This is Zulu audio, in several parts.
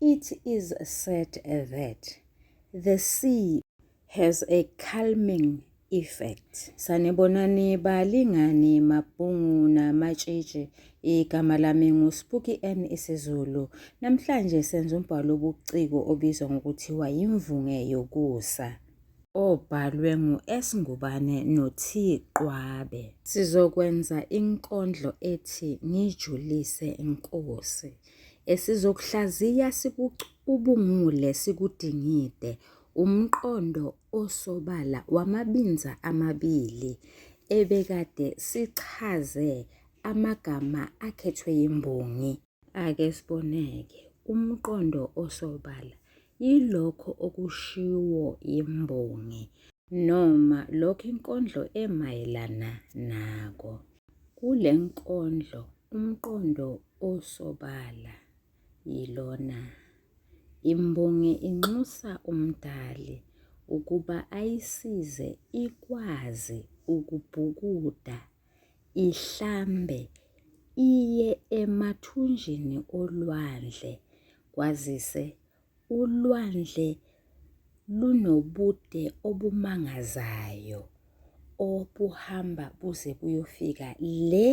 It is said that the sea has a calming effect. Sanibonani balingani mabhungu namatshitshi igama lami nguSpuki N isiZulu. Namhlanje senza umbhalo obuciko obizwa ngokuthiwa yimvunge yokusa obhalwe ngu-S Ngubane no-T Qwabe. Sizokwenza inkondlo ethi ngijulise Nkosi. esizokuhlaziya sikucubungule sikudingide umqondo osobala wamabinza amabili ebekade sichaze amagama akhethwe yimbongi. Ake siboneke umqondo osobala yilokho okushiwo yimbongi noma lokho inkondlo emayelana nako. Kule nkondlo umqondo Usobala yilona. Imbongi inxusa uMdali ukuba ayisize ikwazi ukubhukuda, ihlambe, iye emathunjini olwandle kwazise Ulwandle lunobude obumangazayo obuhamba buze buyofika le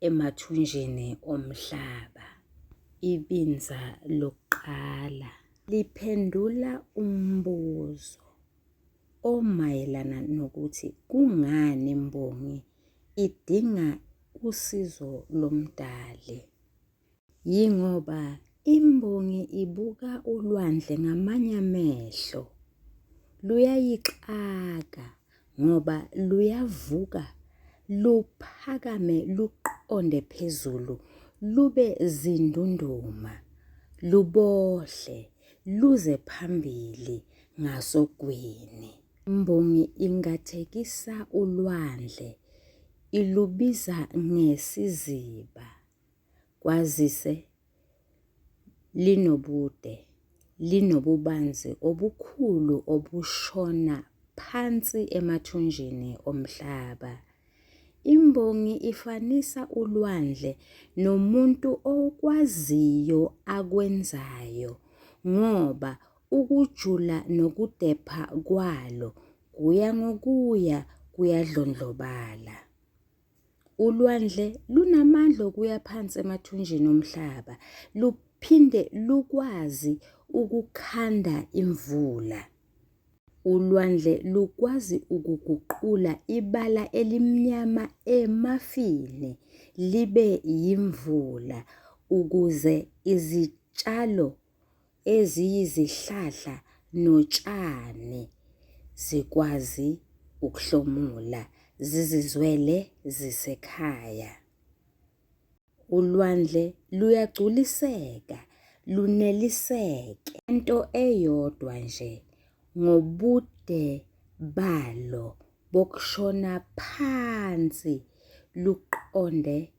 emathunjini omhlaba. Ibinza lokuqala liphendula umbuzo omayelana nokuthi kungani imbongi idinga usizo lomdali. Yingoba imbongi ibuka ulwandle ngamanye amehlo. Luyayixaka ngoba luyavuka luphakame luqonde phezulu lube zindunduma lubohle luze phambili ngasogwini. Imbongi ingathekisa ulwandle ilubiza ngesiziba. kwazise linobude, linobubanzi obukhulu obushona phansi emathunjini omhlaba. Imbongi ifanisa ulwandle nomuntu okwaziyo akwenzayo ngoba ukujula nokudepha kwalo kuya ngokuya kuyadlondlobala. Ulwandle lunamandla okuya phansi emathunjini omhlaba, luphinde lukwazi ukukhanda imvula. Ulwandle lukwazi ukuguqula ibala elimnyama emafini libe yimvula ukuze izitshalo eziyizihlahla notshani zikwazi ukuhlomula zizizwele zisekhaya. Ulwandle luyagculiseka luneliseke into eyodwa nje ngobude balo bokushona phansi luqonde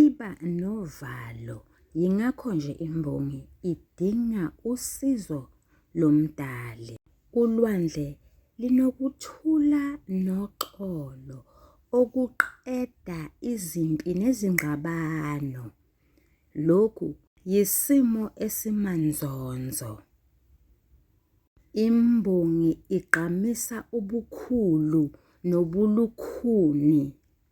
Iba novalo yingakho nje imbongi idinga usizo lomdali. Ulwandle linokuthula noxolo okuqeda izimpi nezingxabano. Lokhu yisimo esimanzonzo. Imbongi igqamisa ubukhulu nobulukhuni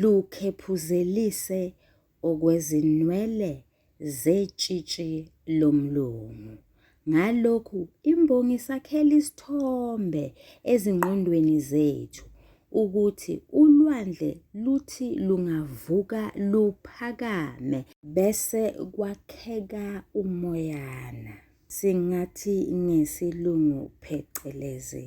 lukhephuzelise okwezinwele zetshitshi lomlomo. Ngalokhu imbongi isakhela isithombe ezingqondweni zethu ukuthi ulwandle luthi lungavuka luphakame bese kwakheka umoyana, singathi ngesilungu phecelezi.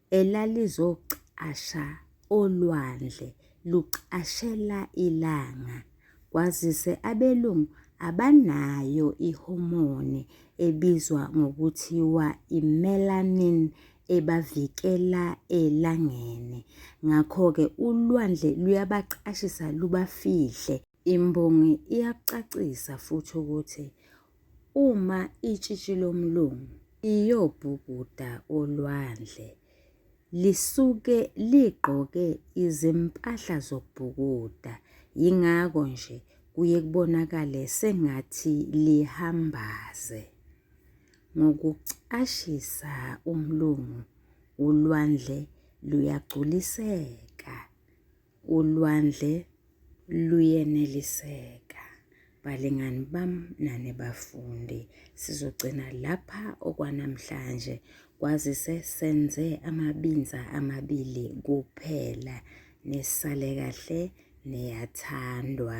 elalizocasha olwandle lucashela ilanga kwazise abelungu abanayo ihomoni ebizwa ngokuthiwa i-melanin ebavikela elangeni. Ngakho-ke ulwandle luyabacashisa lubafihle. Imbongi iyakucacisa futhi ukuthi uma itshitshi lomlungu iyobhukuda olwandle lisuke ligqoke izimpahla zokubhukuda yingakho nje kuye kubonakale sengathi lihambaze ngokucashisa umlungu ulwandle luyagculiseka ulwandle luyeneliseka balingani bam nane bafundi sizogcina lapha okwanamhlanje kwazise senze amabinza amabili kuphela nesale kahle neyathandwa